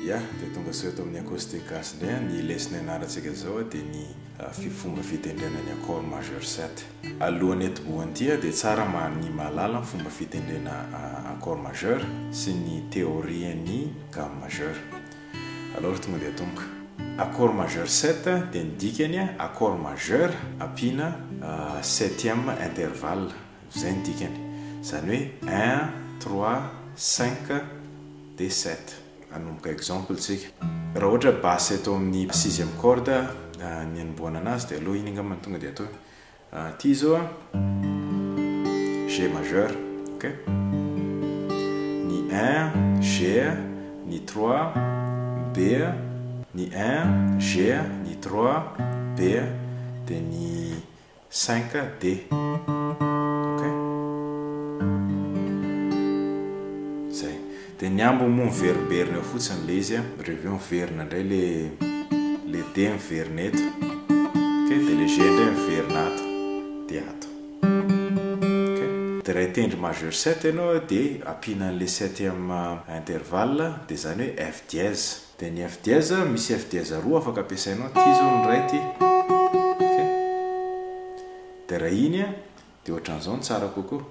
Ya, dia tonga sao eto amin'ny acoustique gasy indray an, ny lesy nianarantsika izao an dia ny fomba fitendrena ny accord majeur sept. Alohan'ny atibohan'ity an dia tsara mba ny mahalala ny fomba fitendrena accord majeur sy ny théorien'ny gamme majeure. Alors tonga dia atomboka. Accord majeur sept dia ny dikany an accord majeur ampiana septième intervalle. Izay ny dikany. Izany hoe un, trois, cinq, dia sept. Hanomboka exemple tsika. Raha ohatra basse eto amin'ny sixième corde ny anombohana anazy dia aleo iny angamba no tonga dia atao. Ity izao an. G majeur. Ok. Ny un, G, ny trois, B, ny un, G, ny trois, B, dia ny cinq de ok zay de ny ambiny moa miverimberina eo fotsiny le izy a de avy eo miverina indray le le de miverina eto ok de le ge indray miverina ato de ato ok de raha hitendry majeur sept ianao de ampiana an'le septième intervalle de zany hoe f dièse Dia ny F dièse, misy F dièse roa afaka ampiasainao, ity izao ny iray ity. Ok? Dia raha iny an, dia ohatran'izao no tsara kokoa.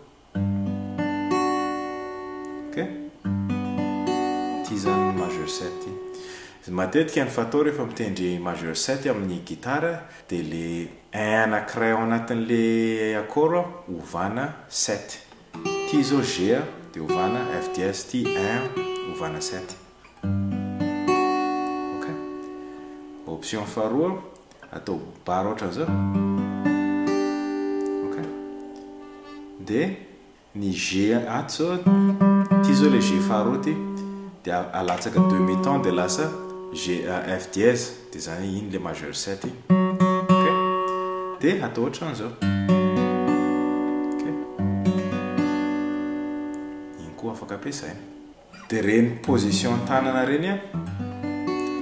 Ok? Ity izany ny majeur 7 ity. Matetika ny fatao rehefa mitendry majeur 7 amin'ny gitara dia ilay un anankiray ao anatin'ilay accord ovana 7. Ity izao G dia ovana F dièse, ity un ovana 7. Ok. Option faharoa, atao bar ohatran'izao. Ok. Dia ny G ato zao, ity zao ilay G faharoa ity, dia alatsaka demi ton dia lasa G F dièse, dia izany hoe iny ilay majeur 7 iny. Ok. Dia atao ohatran'izao. Ok. Iny koa afaka ampiasaina. Dia ireny position tanana ireny an,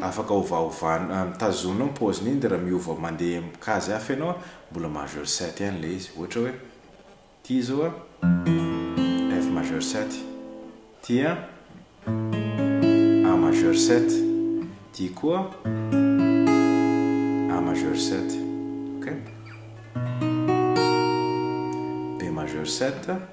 afaka ovaovanao, mitazona eo ny pause n'iny dia raha miova mandeha amin'ny kajy hafa ianao an, mbola majeur sept ihany ilay izy, ohatra hoe ity izao an, F majeur sept, ity an, A majeur sept, ity koa A majeur sept, ok? B majeur sept.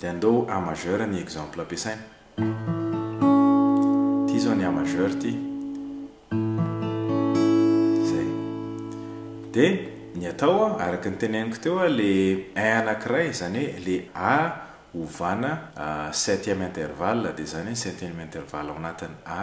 Dia andao A majeur ny exemple ampiasaina. Ity izao ny A majeur ity. Izay. Dia ny atao araka ny teneniko teo ilay un anankiray izany hoe ilay A ovana septième intervalle dia izany hoe ny septième intervalle ao anatin'ny A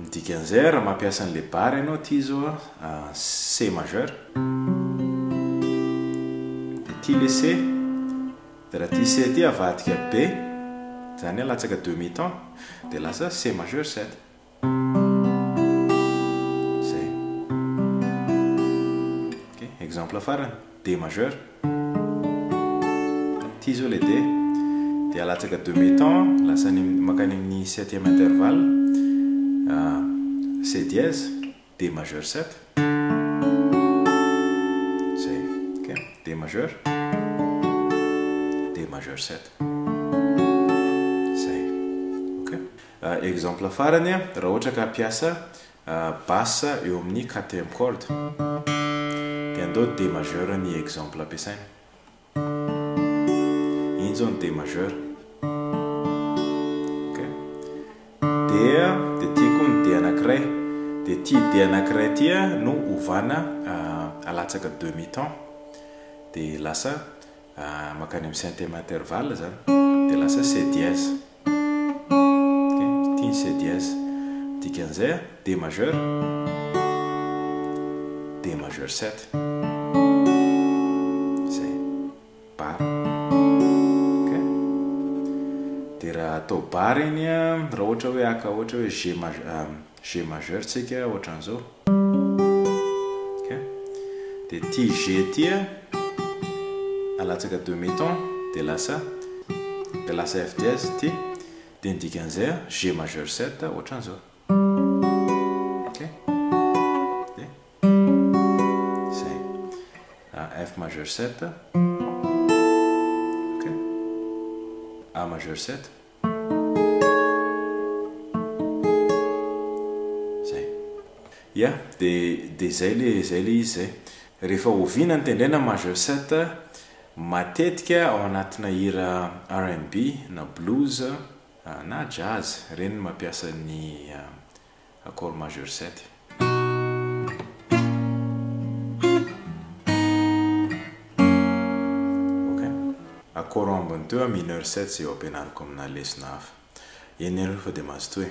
Ny dikan'izay raha mampiasa ny le barre ianao aty izao C majeur dia aty le C dia raha aty C aty avadika B izany hoe latsaka demi ton dia lasa C majeur 7 izay ok exemple farany D majeur, ty zao le D, de alatsaka deux mi-temps lasa any makany amin'ny septième intervalle, C dièse, D majeur sept, zay, ok, D majeur, D majeur sept, zay, ok. Exemple farany, raha ohatra ka hampiasa Basse eo amin'ny quatrième corde. Dia andao D majeur ny exemple ampiasaina. Iny izao ny D majeur. dia dia ity koa ny D anankiray dia ity D anankiray ity no ovana euh, alatsaka demi temps dia lasa euh, makany amin'ny cinquième intervalle zany dia lasa C dièse Ity ny se dièse. Ny dikan'izay a, D majeur, D majeur sept. Izay. Bar. Dia raha atao bar iny a, raha ohatra hoe haka ohatra hoe G majeur, G majeur tsika ohatran'izao ok dia ity G ity alatsaka demi ton dia lasa dia lasa F dièse ity dia ny dikan'izay G majeur 7 ohatran'izao ok dia izay F majeur 7 ok A majeur 7 Zay. Ya, de de zay le zay le izy zay. Rehefa oviana ny tendrena majeur sept matetika ao anatina hira RNB na blues na jazz, ireny no mampiasa ny accord majeur sept. Ok. Accord ambiny teo a mineur sept zay ho ampianariko amina lesona hafa. Eny aloha fa dia mazotoa e.